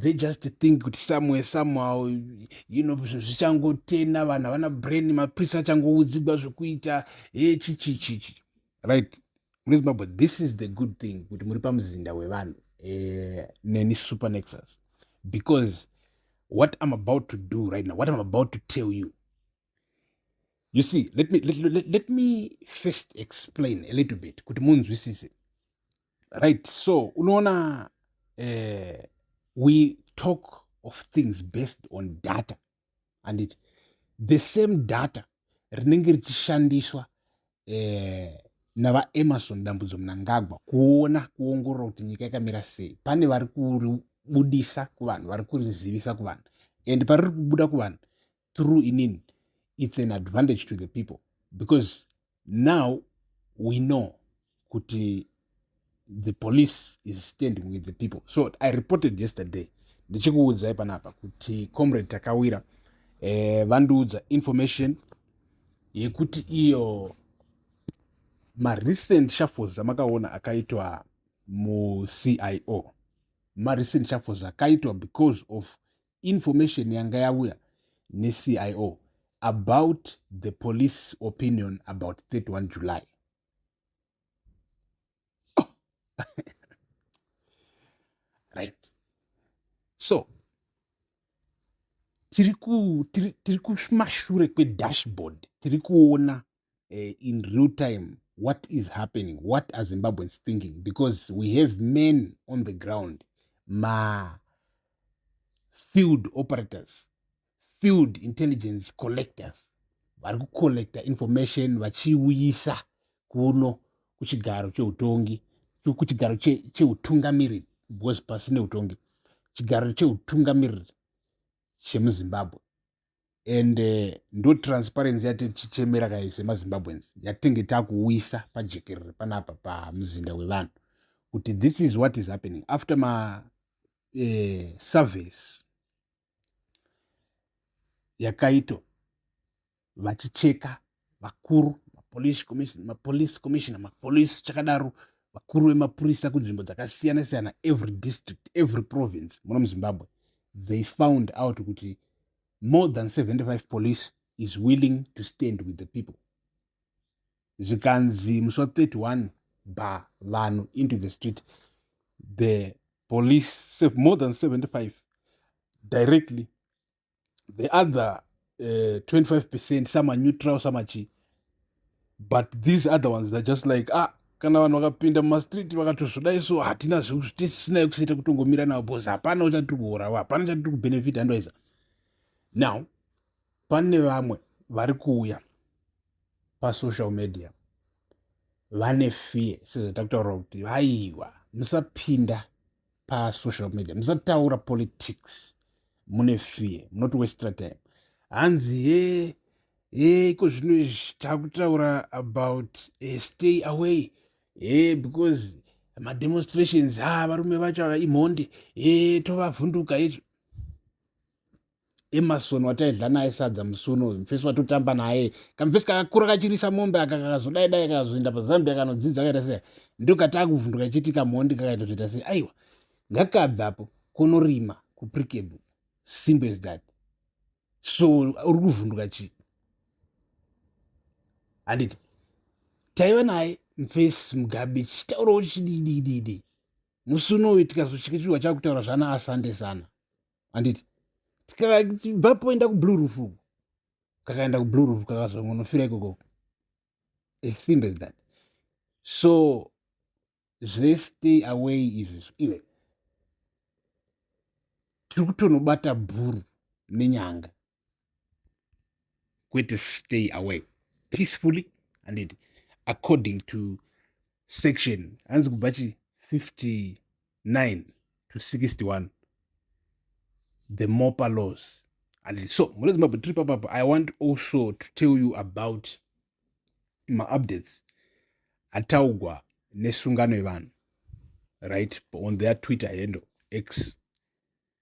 they just think kuti somewhere somehow you know zvichangotena vanhu havana brain maprisi achangoudzigwa zvekuita he chichichichi right munezimbabwe this is the good thing kuti muri pamuzinda wevanhu eh, neni supernexus because what i'm about to do right now what i'm about to tell you you see let me, let, let, let me first explain a little bit kuti munzwisise right so unoona uh, we talk of things based on data and it, the same data rinenge richishandiswa eh, navaemarson dambudzo munangagwa kuona kuongorora kuti nyika yakamira sei pane vari kuribudisa kuvanhu vari kurizivisa kuvanhu and pariri kubuda kuvanhu through inin it's an advantage to the people because now we know kuti the police is standing with the people so i reported yesterday ndichikuudzai panapa kuti comrade takawira eh, vandiudza information yekuti iyo marecent shuffles amakaona akaitwa mucio marecent shuffles akaitwa because of information yanga yauya necio about the police opinion about 31 july oh. right so tiri kumashure kwedashboard tiri kuona uh, in real time what is happening what are zimbabweans thinking because we have men on the ground ma field operators field intelligence collectors vari kucollecta information vachiuyisa kuno kuchigaro cheutongi kuchigaro cheutungamiriri because pasi neutongi chigaro cheutungamiriri chemuzimbabwe and eh, ndo transparency yati tichichemera kai semazimbabweans yatinge takuwisa pajekerere panapa pamuzinda wevanhu kuti this is what is happening after ma eh, service yakaito vachicheka vakuru mapolice commission mapolice commissioner mapolice chakadaro vakuru vemapurisa kunzvimbo dzakasiyana siyana every district every province muno muzimbabwe they found out kuti more than 75 police is willing to stand with the people zvikanzi musi wa 31 ba vanhu into the street the police more than 75 directly the other uh, eh, 25 percent samaneutral samachii but these other ones they're just like ah kana vanhu vakapinda mumastreet vakatozvoda isu hatina zvetisisinayo kusaita kutongomira navo bcause hapana uchatiri kuurawa hapana chatiri kubenefita andoiza now pane vamwe vari kuuya pasocial media vane fear sezvatakutotaura kuti vaiwa musapinda pasocial media musataura politics mune fear munoti westra time hanzi he he iko zvino izvi takutaura about uh, stay away he because mademonstrations ha varume vacho ava imhondi he tovavhunduka izvo Emerson wataidla naye sadza musi uno uyu mfesi watotamba naye kamfesi kakakura kachirisa mombe aka kakazodai dai kakazoenda pazambia kanodzidza kaita sei ndokati akuvhunduka ichiti kamhondi kakaita zvoita sei aiwa ngakabve apo konorima kuprikable simple as that so uri kuvhunduka chii handiti taiva naye mfesi mugabi chitaurawo chididididi musi uno uyu tikazochikechirwa chakutaura zvana asande sana handiti tikabvapo enda kublue roof uku kakaenda kublue roof kakazongonofira ikoko as simple as that so zvestay away izvezvo iwe tiri kutonobata bhuru nenyanga kwete stay away peacefully and it, according to section hanzi kubva chi 59 to 61 the mopa laws and so mune zimbabwe tiri papapa i want also to tell you about maupdates ataugwa nesungano yevanhu right on their twitter handle x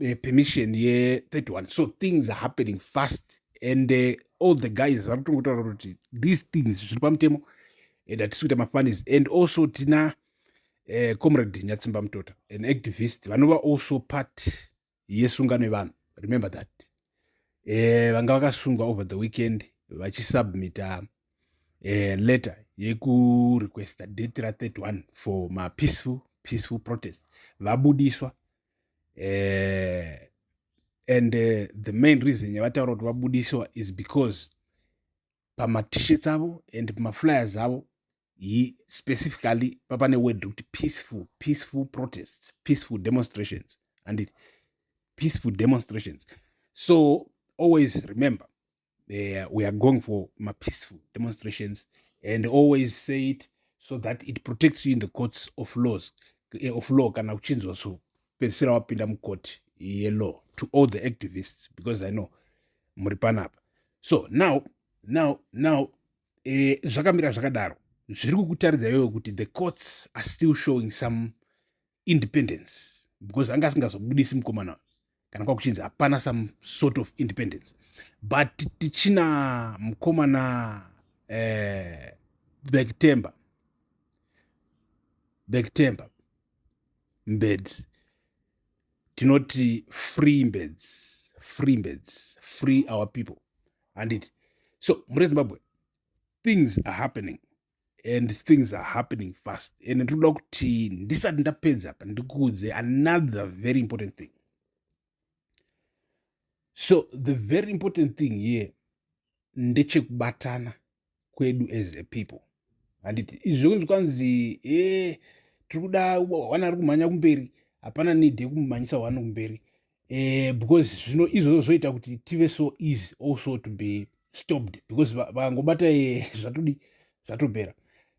eh, permission ye 31 so things are happening fast and uh, all the guys vari kutongotaura kuti these things zviri pamutemo and hatisi kuita mafanis and also tina uh, comrade nyatsimba mutota an activist vanova also part yesungano yevanhu remember that uh, vanga vakasungwa over the weekend vachisubmita uh, letter yekurequesta date ra 31 for mapeaceful peaceful protest vabudiswa uh, and uh, the main reason yavataura kuti vabudiswa is because pamatishets avo and pamaflyers avo yi specifically papane word rekuti peaceful peaceful protests peaceful demonstrations andit peaceful demonstrations so always remember uh, we are going for mapeaceful demonstrations and always say it so that it protects you in the courts of laws eh, of law kana uchinzwa so pedzisira wapinda mukoti yelaw to all the activists because i know muri panapa so now now now eh, zvakamira zvakadaro zviri kukutaridza iwewe kuti the courts are still showing some independence because anga asingazobudisi mukomana kana kwakuchinzi hapana some sort of independence but tichina mukomana eh, bektember bektember mbeds tinoti free mbeds free mbeds free our people handiti so mure zimbabwe things are happening and things are happening fast and ndinoda kuti ndisati ndapedza apa ndikuudze another very important thing so the very important thing here ndechekubatana kwedu as a people handiti izvo kunzi kwanzi e eh, tiri kuda wana ari kumhanya kumberi hapana need yekumumhanyisa wani kumberi eh, because zvino izvozvo zvoita kuti tive so easy also to be stopped because vakangobata eh, zvatodi zvatopera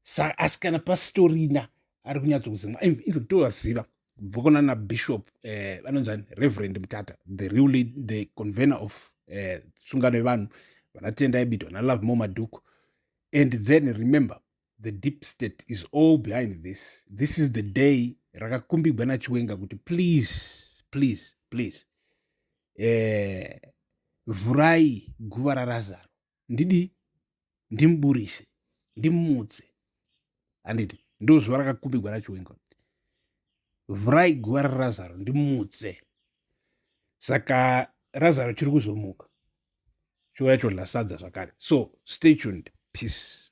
sa asi kana pasitorina ari kunyatsokuzimwa even tovaziva bvokona na bishop eh, vanonzani reverend mutata the real lead, the convener of eh, sungano yevanhu vanatenda ebito vanalove mo madhuku and then remember the deep state is all behind this this is the day rakakumbigwa nachiwenga kuti please please please eh, vhurai guva rarazaro ndidi ndimuburise ndimutse handiti ndo zuva rakakumbigwa nachiwenga kuti vhurai guva rarazaro ndimutse saka razaro chiri kuzomuka chiuya chodla sadza zvakare so stay tuned peace